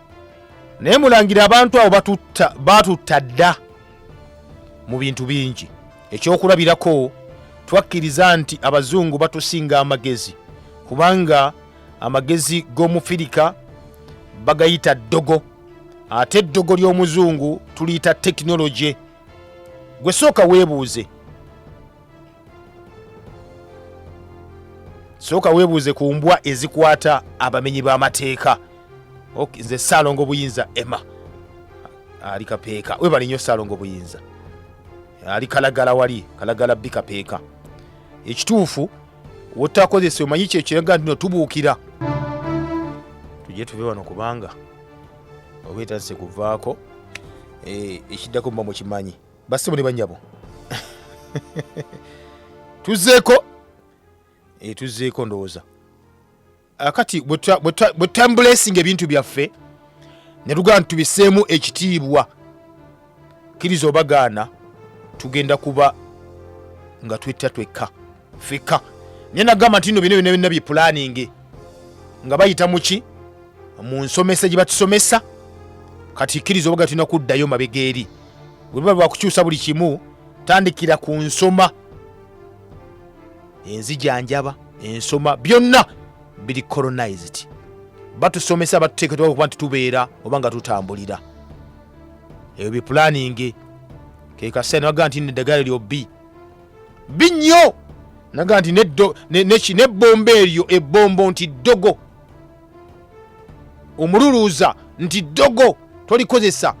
naye mulangira abantu abo batutta dda mu bintu bingi ekyokulabirako twakkiriza nti abazungu batusinga amagezi kubanga amagezi g'omufirika bagayita ddogo ate eddogo ly'omuzungu tuliyita tekinologye gwe sooka weebuuze sooka weebuuze ku mbwa ezikwata abamenyi b'amateeka Ok, nze saalongo buyinza emma ali kapeeka webale nnyo saalongo buyinza ali kalagala wali kalagala bbi kapeeka ekituufu wotakozesa omanyi kyo kiraga ntino tubuukira tujje tuve wano kubanga oba etandise kuvaako eh, ekiddako muba mukimanyi bassebo ne bannyabo tuzzeeko eh, tuzzeeko ndowooza Ah, kati bwe tuta- bwe tuta- bwe tutambulesinga ebintu byaffe ne tugaa nti tubiseemu ekitiibwa kkiriza obagaana tugenda kuba nga twetta twekka fika naye nagamba nti no bino byona byonna bipulaninge nga bayita muki mu nsomesa gye batusomesa kati kkiriza obaga tulina kuddayo mabega eri webuba bwakukyusa buli kimu tandikira ku nsoma enzijanjaba ensoma byonna biri colonized batusomesa batuteeketwa okuba nti tubeera oba nga tutambulira ebyo bipulaninge kekaseera nabaga nti neddagala lyobbi binnyo naga nti nebbombo eryo ebbombo nti ddogo omululuuza nti ddogo tolikozesa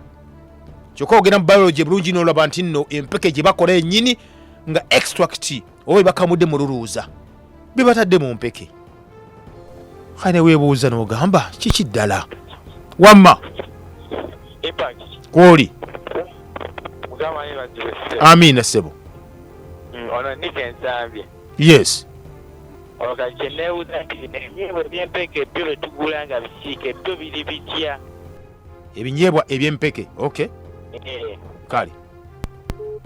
kyokka ogenda mu biology bulungi nolaba nti nno empeke gye bakola enyini nga extract oba ebakamudde mululuuza bebatadde mu mpeke kale newebuuza nogamba kiki ddala wamma kwoli amiina ssebo mm, yes kyenebuuza nti ebyempeke ebyo betugula nga bisiika ebyo biri bitya ebinyeebwa ebyempeke okay eh. kale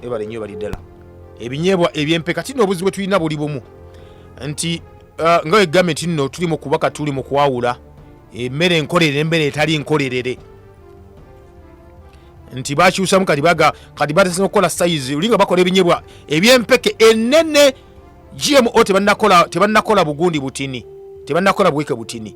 ebale nyo bali ddala ebinyeebwa ebyempeke ati no obuzibu bwetulina buli bumu nti uh, nga wegambe nti nno tuli mu kubaka tuli mu kwawula emmere enkolerere embere etali nkolerere nti bakyusamu kati baga kati batesa okukola sayizi olinga bakola ebinyebwa ebyempeke enene gmo tebanakola bugundi butini tebanakola buweke butini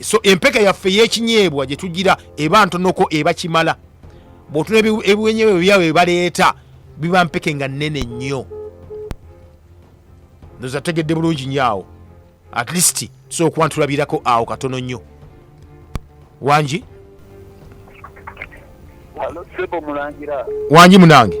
so empeke yaffe yekinyeebwa gyetugira eba ntonoko eba kimala bwotuna ebiwenyeebwa ebyabwe bebaleeta biba mpeke nga nene nnyo noza tegedde bulungi nyo awo at least tusobola okuba ntulabirako awo katono nnyo wangi wangi munange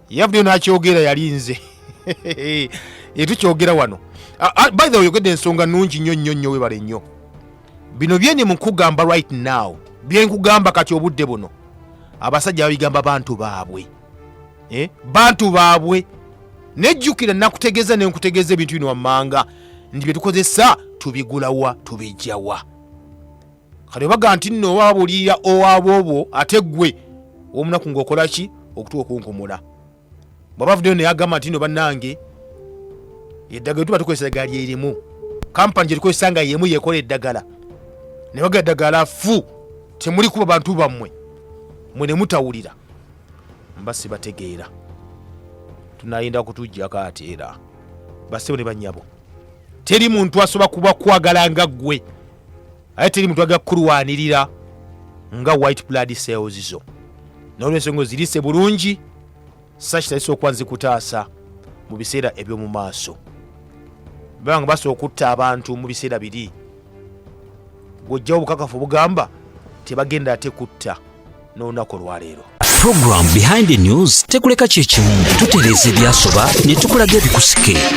yavuddeyo n'akyogera yali nze etukyogera wano Ah, ah, by the way oyogedde ensonga nungi nnyo nnyo nnyo webale nnyo bino byeni mukugamba right now byenkugamba kati obudde buno abasajja babigamba bantu baabwe eh? bantu baabwe nejjukira nakutegeeza nenkutegeeza ebintu bino wammanga nti byetukozesa tubigulawa tubijjawa kale baga nti nno oba babuulirira owaboobwo ate ggwe omunaku ng'okola ki okutuwa okunkomola bwe bavuddeyo naye agamba nti nno bannange eddagala tuba tukozesa eddagala lyerimu kampani gye tukozesa nga yemu yekola eddagala ne baga eddagala fu temuli kuba bantu bammwe mwe ne mutawulira mba sibategeera tunayenda kutujjako ate era basebo ne bannyabo teri muntu asobola kuba kwagala nga ggwe aye teri muntu agenda kukulwanirira nga white blood cells zo nolwensonga ozirise bulungi sakitalisa okuba nzikutaasa mu biseera eby'omu maaso banga basobola okutta abantu mu biseera biri gwojjawo obukakafu obugamba tebagenda ate kutta n'olunaku olwaleero Program Behind the News tekuleka kye kimu tutereeza ebyasoba ne tukulaga ebikusike